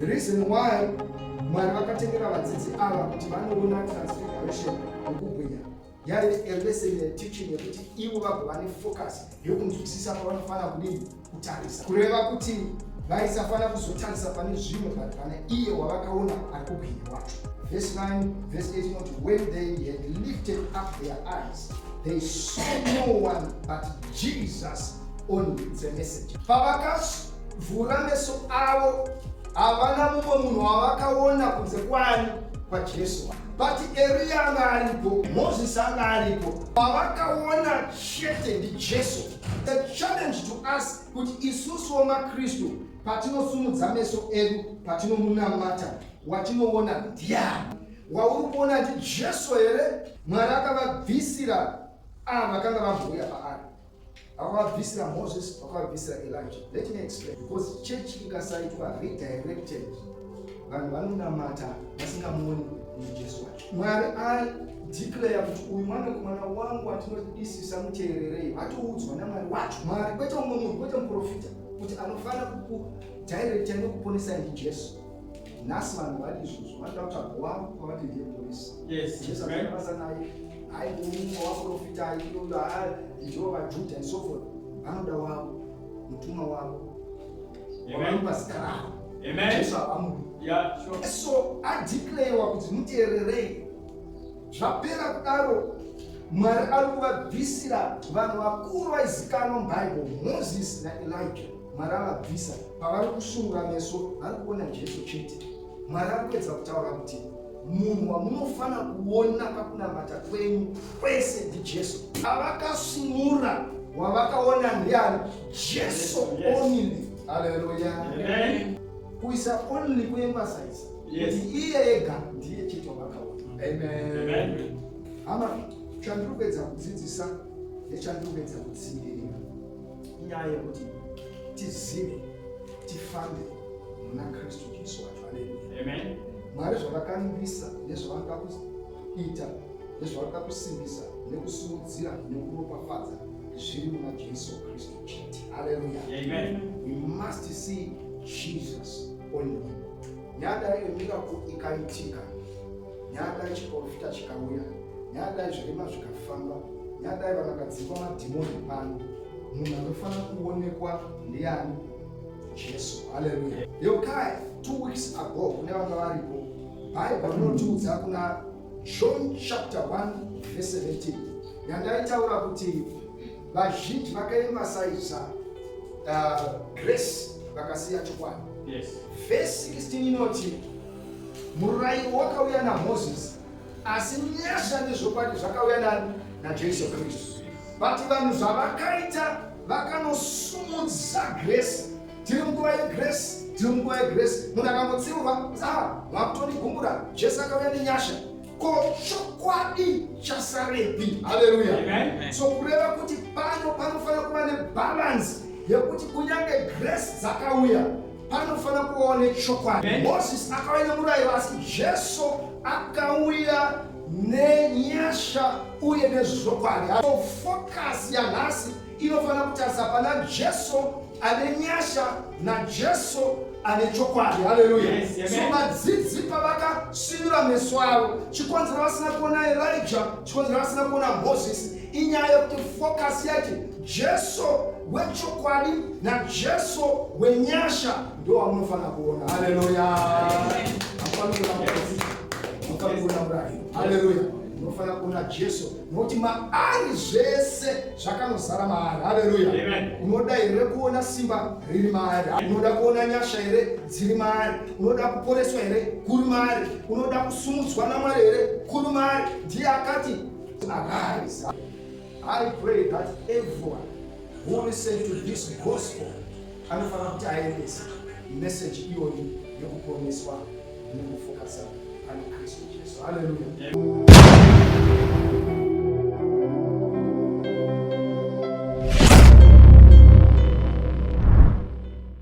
Reason why Mwari vakatengera vadzidzi ava kuti vanoona transfiguration nokubwinya yaive a lesson yeteaching yekuti ivo vagova nefocus yekunzwisisa pavanofanira kudini kutarisa kureva kuti vaisafanira kuzotarisa pane zvimwe but pane iye wavakaona ari kubwinya wacho verse 9 verse 8 not when they had lifted up their eyes they saw no one but jesus only the message pavakas Vhura meso avo, havana mumwe munhu wavakaona kunze kwani kwaJesu. Vati Eriya anga aripo, Moses anga aripo, vavakaona chete ndiJesu. The challenge to us kuti isusu wamaKristu patinosumudza meso edu patinomunamata, watinoona ndiani? Wauri kuona ndiJesu here? Mwari akavabvisira ava vakanga vambouya paari. Vakavabvisira Moses, vakavabvisira Elijah. Let me explain. Because church ikasaitwa redirected, vanhu vanonamata vasingamuoni kuti Jesu wacho. Mwari ari declare kuti uyu mwana kumwana wangu atinodisisa muteererei, atoudzwa naMwari wacho. Mwari kwete umwe munhu, kwete muprofita kuti anofanira kukudirecta nekuponesa ndi Jesu. nhasi vanhu vati izvozvo vanoda kuti ago wavo kwavati ndiye muporisi jesu akanabasa naye hayi umwe waprofita aiyoyo haa ndiwo vajudha and so forth vanoda wavo mutumwa wavo wavanopa zita ravo jesu havamuri so adeclarewa kuti muteererei zvapera kudaro mwari ari kuvabvisira vanhu vakuru vaizikanwa mubhaibheri moses naelija Mwari avabvisa pavari kusungura meso, vari kuona Jesu chete. Mwari ari kuedza kutaura kuti munhu wamunofanira kuona pakunamata kwenyu kwese ndijesu avakasunura wavakaona ndiani jesu only aleluya kuisa only kuemphasize kuti iye ega ndiye chete wavakaona amen hama chandiri kuedza kudzidzisa nechandiri kuedza kutsivirira inyaya yekuti tizive tifambe muna kristu jesu wacho aleluya mwari zvavakambisa nezvavanoda kuita nezvavanoda kusimbisa nekusimudzira nekuropafadza zviri muna jesu kristu chete aleluya we must see jesus only nyaya daiyo miracle ikaitika nyadai chiporofita chikauya nyadai zvirema zvikafamba nyadai vanhu vakadzingwa madhimoni pano munhu anofanira kuonekwa ndiani jesu haleluya yokai two weeks ago kune vanga varipo bhaibha rinotiudza kuna john chapter 1 verse 17 yandaitaura kuti vazhinji vakaemasaisa uh, grace vakasiya chokwadi yes. verse 16 inoti Murairo wakauya naMozisi, asi nyasha nezvokwadi zvakauya nani? NaJesu Kristu. But vanhu zvavakaita vakanosumudza grace. Tiri munguva yegrace, tiri munguva yegrace. Munhu akangotsiurwa, ah, wakutonigumbura, Jesu akauya nenyasha. Ko chokwadi chasarepi? Haleluya! So kureva kuti pano panofanira kuva nebalansi yekuti kunyange grace dzakauya panofanira kuvawo nechokwadi moses akauya nemurayiro asi jesu akauya nenyasha uye nezvokwadi so focus yanhasi inofanira kutarisa pana jesu ane nyasha najesu ane chokwadi haleluya yes, yes, so vadzidzi pavakasinura meso avo chikonzera vasina kuona erija chikonzera vasina kuona moses inyaya yekuti focus yacho jesu wechokwadi najesu wenyasha ndo wamunofanira kuona haleluya haleluya unofanira kuona jesu nokuti maari zvese zvakanozara maari haleluya unoda here kuona simba riri maari unoda kuona nyasha here dziri maari unoda kuporeswa here kuri maari unoda kusumudzwa namwari here kuri maari ndiye akati Arise. I pray that everyone who listen to this gospel anofanira kuti aendese message iyoyi yekuponeswa nekufokasa pane Kristu Jesu. Hallelujah.